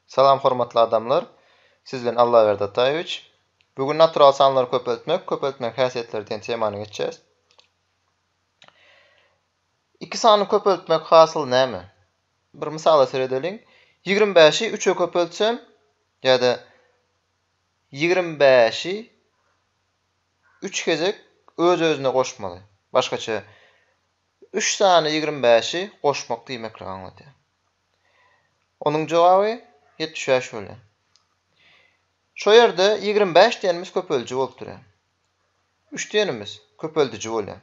Salam hormatly adamlar! Siz bilen Allaberdi Ataýewiç. Bu gün natural sanlary köpeltmek, köpeltmegiň häsiýetleri diýen temany geçýäs. Iki sany köpeltmek hasyl näme? Bir mysala seredeliň. Ýigrimi bäşi üçe köpeltsem ýa-da ýigrimi bäşi üç gezek öz-özüne goşmaly. Başgaça, üç sany ýigrimi bäşi goşmak diýmeklik aňladýar. Onuň jogaby ýetmiş bäş bolýar. Şo ýerde ýigrimi bäş diýenimiz köpeldiji bolup durýar. Üç diýenimiz köpeldiji bolýar.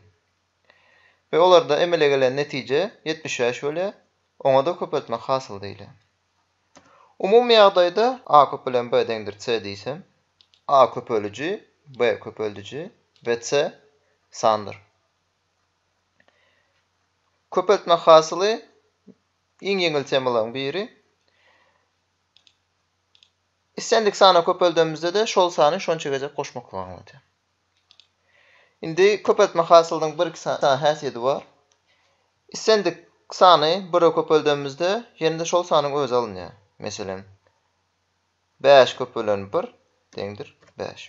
We olarda emele gelen netije ýetmiş bäş bolýar, oňa-da köpeltmek hasyly diýilýär. Umumy ýagdaýda A köpelen B deňdir C diýsem, A köpeliji, B köpeldiji we C sandyr. Köpeltme hasyly iň ýeňil temalaryň biri. Islendik sana köpeldemizde-de şol sany şonça gezek goşmaklygy aňladýar. Indi köpeltme hasylynyň bir sany häsiýeti bar. Islendik sany bire köpeldemizde ýene-de şol sanyň özi alynýar. Meselem, bäş köpelen bir deňdir bäş.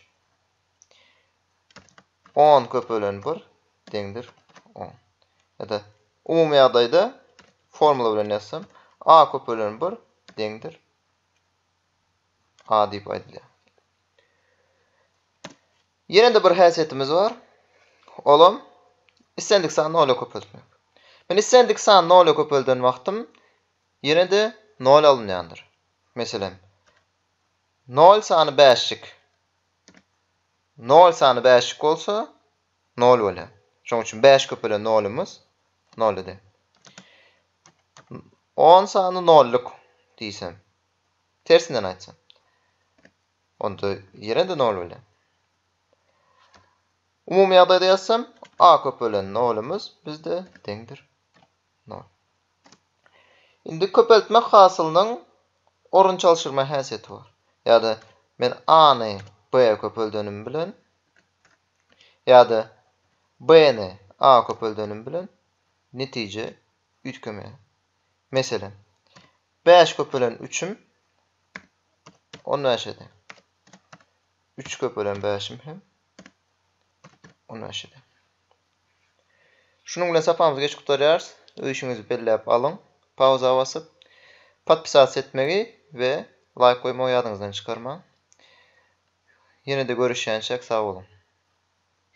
On köpelen bir deňdir on. Ýa-da umumy ýagdaýda formula bilen ýazsam, a köpelen bir deňdir a diýip aýdylýar. Ýene-de bir häsiýetimiz bar. Olam islendik sany nola köpeltmek. Men islendik sany nola köpelden wagtym ýene-de nol alynýandyr. Meselem, nol sany bäşjik Nol sany bäşlik bolsa, nol bolýar. Şonuň üçin bäş köpelen nolumyz nol eder. On sany nolluk diýsem, tersinden aýtsam, onda ýene-de nol bolýar. Umumy ýagdaýda ýazsam, a köpelen nolumyz bizde deňdir nol. Indi köpeltmek hasylynyň orun çalşyrma häsiýeti bar. Ýa-da men A-ny B-e köpeldenim bilen ýa-da B-ni A-a köpeldenim bilen netije üýtgemeýär. Meselem, bäş köpelen üçüm on bäşe deň. Üç köpelen bäşim hem Ondan şeýle. Şunuň bilen sapamyzy geçip gutarýarys. Öýşüňizi belläp alyň. Pauza basyp, podpisasiýa etmegi we laýk goýmagy ýadyňyzdan çykarmaň. Ýene-de görüşýänçäk sag boluň.